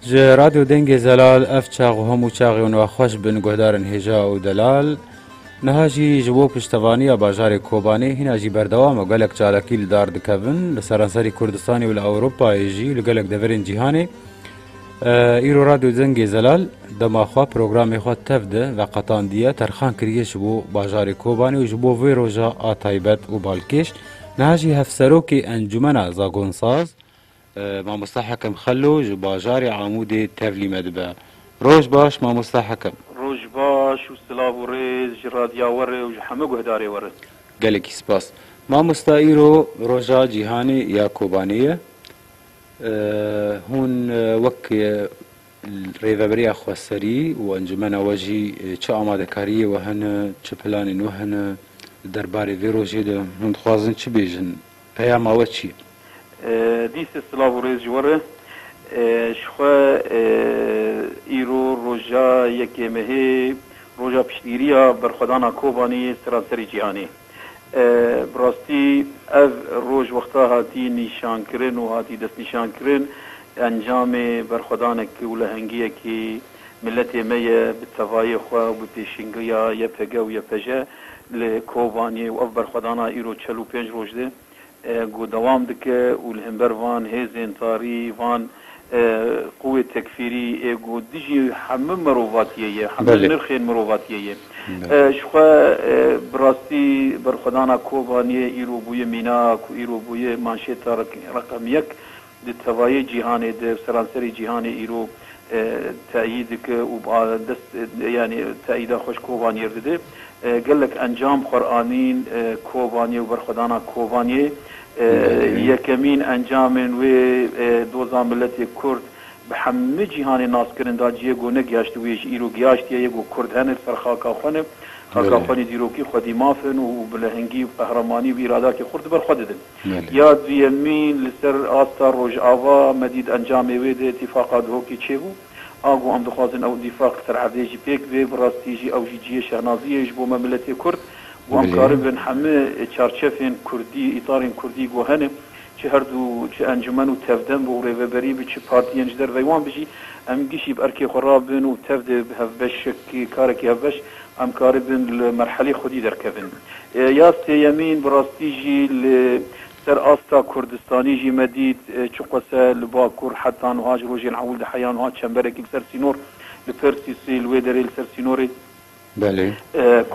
Ji Radyo Dengê Zelal ev çax û hemû çaxê wan ve xweş bin guhdar in hêja û delal. Niha jî ji bo piştevaniya bajarê Kobanê hîna jî berdewam e gelek çalakî li dar dikevin li seranserî Kurdistanê û li Ewropayê jî li gelek deverên cîhanê. Îro Radyo Dengê Zelal dema xwe programê xwe tev de veqetandiye terxan kiriye ji bo bajarê Kobanê û ji bo vê roja a taybet û balkêş. Niha jî hevserokê encûmena zagonsaz Mamosta Hekim Xelo ji bajarê Amûdê tevlî me dibe. Roj baş mamosta Hekim. Roj baş û silav û rêz ji radya we re û ji hemû guhdarê we re. Gelekî spas mamosta îro roja cîhanê ya kobanê ye hûn wek rêveberiya xweserî û encûmena we jî çi amadekariyê we hene çi planên we hene li derbarê vê rojê de hûn dixwazin çi bêjin? Peyama we çi ye? Dîse silav û rêz ji we re. Ji xwe îro roja yekê mehê, roja piştgîriya berxwedana Kobanî yê seranserî cîhanê. Bi rastî ev roj wexta hatî nîşankirin û hatî destnîşankirin encamê berxwedanek û lehengiyekî Miletê me ye bi tevayê xwe û bi pêşîngiya YPG û YPJ li Kobaniyê û ev berxwedana îro çel û pênc roj de ku dewam dike û li hember van hêzên tarî, van quwê tekfîrî ê ku dijî hemû mirovatiyê ye, hemû nirxên mirovatiyê ye. Ji xwe bi rastî berxwedana Kobaniyê îro bûye mîna ku îro bûye manşêta reqem yek Di tevayê cîhanê de seranserê cîhanê îro teyîd dike û bi dest yanî teyîda xwe ji Kobaniyê dide. Gelek encam xwer anîn Kobaniyê û berxwedana Kobaniyê yekemîn encamên wê doza miletê Kurd bi hemû cîhanê nas kirin da ciyê ku negihiştibûye ji îro gihaştiye yê ku Kurd hene li ser xaka xwe ne, xaka xwe nê dîrokî xwedî maf in û bi lehengî û bi qehremanî û bi îradakê xurt li ber xwe didin. Ya duyemî li ser asta Rojava me dît encamê wê di îtîfaqa Duhokê çêbû. A got em dixwazin ew îtîfaq li ser erdê jî pêk bê. Bi rastî jî ew jî cihê şehnaziyê ye ji bo me miletê Kurd. Got em karibin hemû çarçefên Kurdî, îtarên Kurdî ku hene, çi her du çi encûmen û tevdem bi û rêveberî bi çi partiyên ji derveyê wan bi jî em gişî bi erkê xwe re bin û tev de bi hevbeşek karekî hevbeş Em karibin li merhelê xwedî derkevin. Ya sêyemîn bi rastî jî li ser asta Kurdistanî jî me dît çiqase li Bakur heta nuha ji rojên ewil de heya nuha çemberekî li ser sînor li Persîsê li wê derê li ser sînorê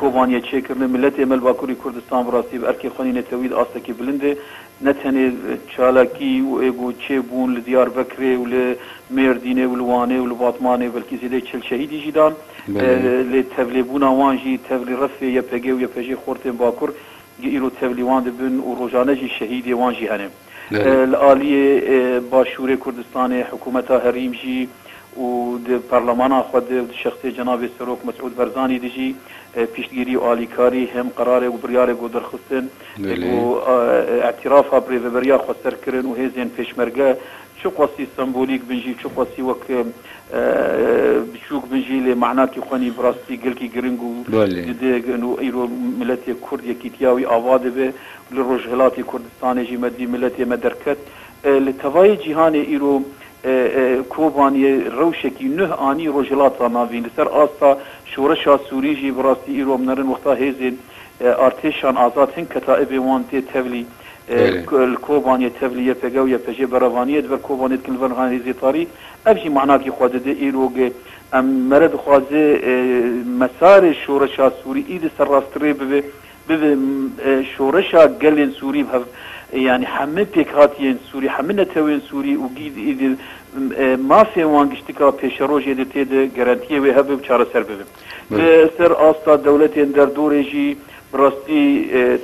Kobaniyê çêkirine. Miletê me li Bakurî Kurdistan bi rastî bi erkê xwenî netewî di astekî bilind e. Ne tenê çalakî û êgo çêbûn li Diyarbekirê û li Mêrdînê û li Wanê û li Batmanê belkî zêdeyî çil şehîdî jî dan. Lê tevlêbûna wan jî tevlî refê YPG û YPJ'ê xortên Bakur ji îro tevlî wan dibin û rojane jî şehîdê wan jî hene. Li aliyê Başûrê Kurdistanê hikûmeta herîm jî û di parlemana xwe de û di şexsê cenabê Serok Mesûd Berzanî de jî piştgirî û alîkarî hem qerarek û biryarek got derxistin. Ê ku îtîrafa bi rêveberiya xwe ser kirin û hêzên pêşmerge çi qasî sembolîk bin jî, çi qasî wek biçûk bin jî lê manakî xwe nî bi rastî gelkî giring û gidig in û îro miletê Kurd yekîtiya wî ava dibe û li Rojhilatê Kurdistanê jî me dî miletê me derket. Li tevayê cîhanê îro Kobaniyê rewşekî nuh anî Rojhilata navîn. Li ser asta şoreşa Sûrî jî bi rastî îro em nerin wexta hêzên Artêşan azad hin ketaîbê wan tê tevlî li Kobaniyê tevlî YPG û YPJ'ê beravaniyê di ber Kobaniyê dikin li vir niha hêzê tarî. Ev jî manakî xwe dide îrog e. Em mere dixwaze mesarê şoreşa Sûrî îdî ser rastrê bibe, bibe şoreşa gelên Sûrî bi hev yanî hemû pêkhatiyên Sûrî, hemû netewên Sûrî û îdî mafê wan giştika pêşerojê de tê de gerentiyê wê hebe û çareser bibe. Li ser asta dewletên derdorê jî bi rastî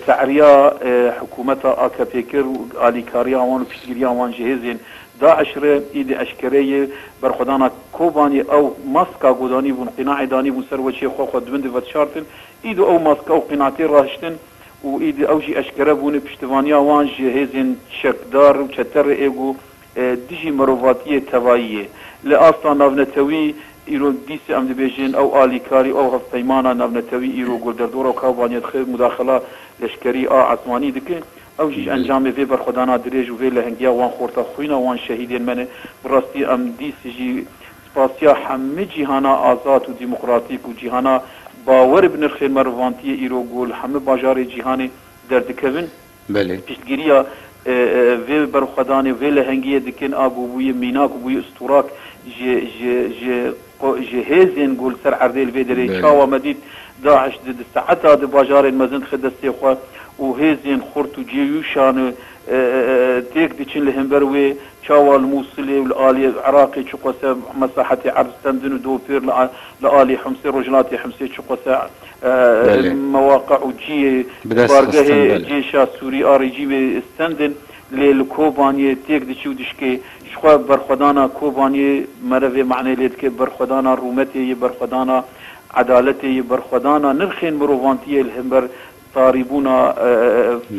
te'riya hikûmeta AKP'ê kir û alîkariya wan û piştgiriya wan ji hêzên DAIŞ re îdî eşkere ye. Berxwedana Kobanî ew maska ku danîbûn, qînaê danîbûn ser weçê xwe, xwe di bin de vedişartin. Îdî ew maska û qîna tê rahiştin û îdî ew jî eşkere bûne piştivaniya wan ji hêzên çekdar û çete re ê ku Dijî mirovatiyê tevayî yê. Li asta navnetewî îro dîsa em dibêjin ew alîkarî û hevpeymana navnetewî îro ku li derdora û kavaniya dixe mudaxila leşkerî a esmanî dike, ew jî ji encamê vê berxwedana dirêj û vê lehingiya wan xorta xwîna wan şehîdên me ne. Bi rastî em dîs jî spasiya hemû cîhana azad û demokratîk û cîhana bawer bi nirxên merivantiyê îro ku li hemû bajarê cîhanê derdikevin, Belê. Piştgiriya vê berxwedanê, vê lehengiyê dikin a ku bûye mînak û bûye usturak ji hêzên ku li ser erdê li vê derê ye. Çawa me dît DAIŞ di di saeta di bajarên mezin dixe destê xwe û hêzên xurt û cêyûşan têk diçin li hember wê, çawa li Mûsilê û li aliyê Iraqê çiqwese mesahetê erd stendin û dopêr li aliyê Himsê, rojhilatê Himsê çiqwese Mewaqa û cihê bargehê cêşa Sûrî a rejîmê stend in, lê li Kobaniyê têk diçe û dişkê. Ji xwe berxwedana Kobaniyê merivê manê lê dike, berxwedana rûmetê ye, berxwedana edaletê ye, berxwedana nirxên mirovantiyê li hember tarîbûna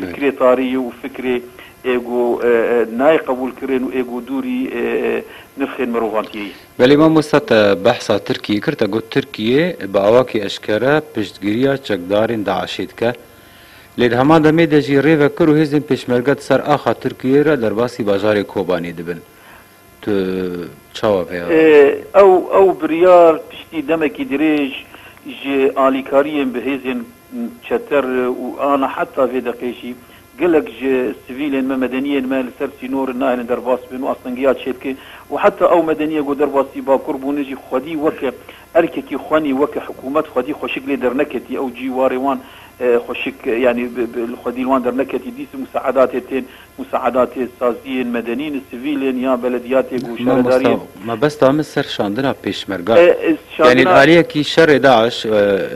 fikrê tarî ye û fikrê ê ku nayê qebûlkirin û ê ku dûrî nirxên mirovantiyê ye. Belê mamosta te behsa Tirkiyê kir, te got Tirkiye bi awakî eşkere piştgiriya çekdarên DAIŞ'ê dike. Lê di heman demê de jî rê vekir û hêzên pêşmerge di ser axa Tirkiyeyê re derbasî bajarê Kobanê dibin. Tu çawa vêya Ew ew biryar piştî demekî dirêj ji alîkariyên bi hêzên çeter û ana heta vê deqê jî Gelek ji sivîlên me, medeniyên me li ser sînorin nahêlin derbas bin û astengiya çêbike û heta ew medeniyê ku derbasî Bakur bûne jî xwedî weke erkekî xwenî weke hikûmet xwedî xweşik lê derneketî ew cî warê wan xweşik yanî li xwedî li wan derneketî dîs musaedatê tên musaedatê saziyên medenîn sivîlên ya belediyatê ku şaredariyên Mabesta min ser şandina pêşmerga e. Yanî li aliyekî şerê DAIŞ,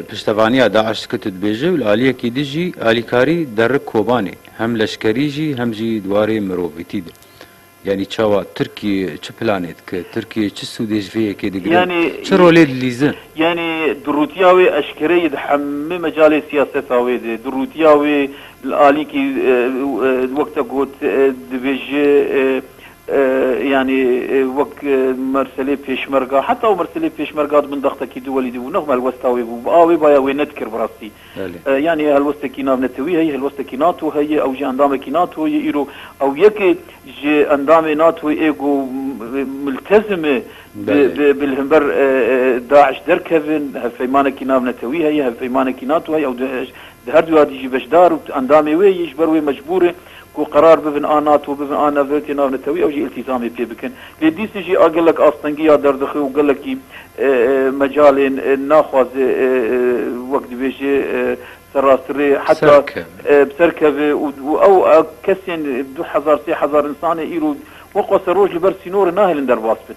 piştevaniya DAIŞ dike tu dibêjî û li aliyekî din jî alîkarî derik kobanê hem leşkerî jî hem jî di warê mirovîtî de. Yanî çawa Tirkiye çi planê dike? Tirkiye çi sûdê ji vê yekê digire? Çi rolê dilîze? Yanî dirûtiya wê eşkere ye di hemû mecalê siyaseta wê de. Dirûtiya wê li aliyekî wekî te got dibêje Yanî wek merselê pêşmerga heta û merselê pêşmerga di bin daxtakî di welî dibû nexm helwesta wê bû. A wê baya wê nedikir bi rastî. Yanî helwestekî nav netewî heye, helwestekî nato heye, ew jî endamekî nato ye îro. Ew yekê ji endamê natoyê ê ku miltezim e bi li himber daiş derkevin. Hevpeymanekî nav netewî heye, hevpeymanekî nato heye. Di her du yadî jî beşdar û endamê wê yî ji ber wê mecbûr in ku qerar bibin a NATO bibin a Navîrotê Navnetewî ew jî îltîzamê pê bikin. Lê dîsê jî a gelek astengî ya derdixwe û gelekî mecalên naxwaze wek dibêje serrasirê heta bi ser keve û ew kesên du hezar sê hezar însanê îro wek xwe serroj li ber sînorê nahêlin derbas bin.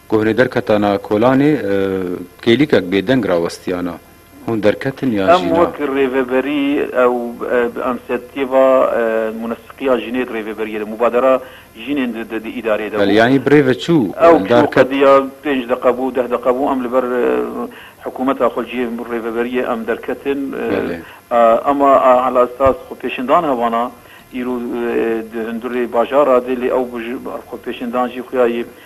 Kohnê derketana Kolanê kêlîkek bêdeng rawestiyana. Hûn derketin ya Em jîna? wek rêveberî ew bi emsetiyê va munesikîya jinê di rêvêberiyê de, mubadera jinên di di îdareyê de Belê, bû. yanî bi rêve çû Ew çû eldar ket. qediya pênc deqa bû, deh deqa bû, em li ber hikûmeta xwe cihê rêveberiyê em derketin. Belê. Ema Ala Esas xwepêşindan hevana, îro di hundirê bajara de, lê ew bi xwepêşindan jî xuya yê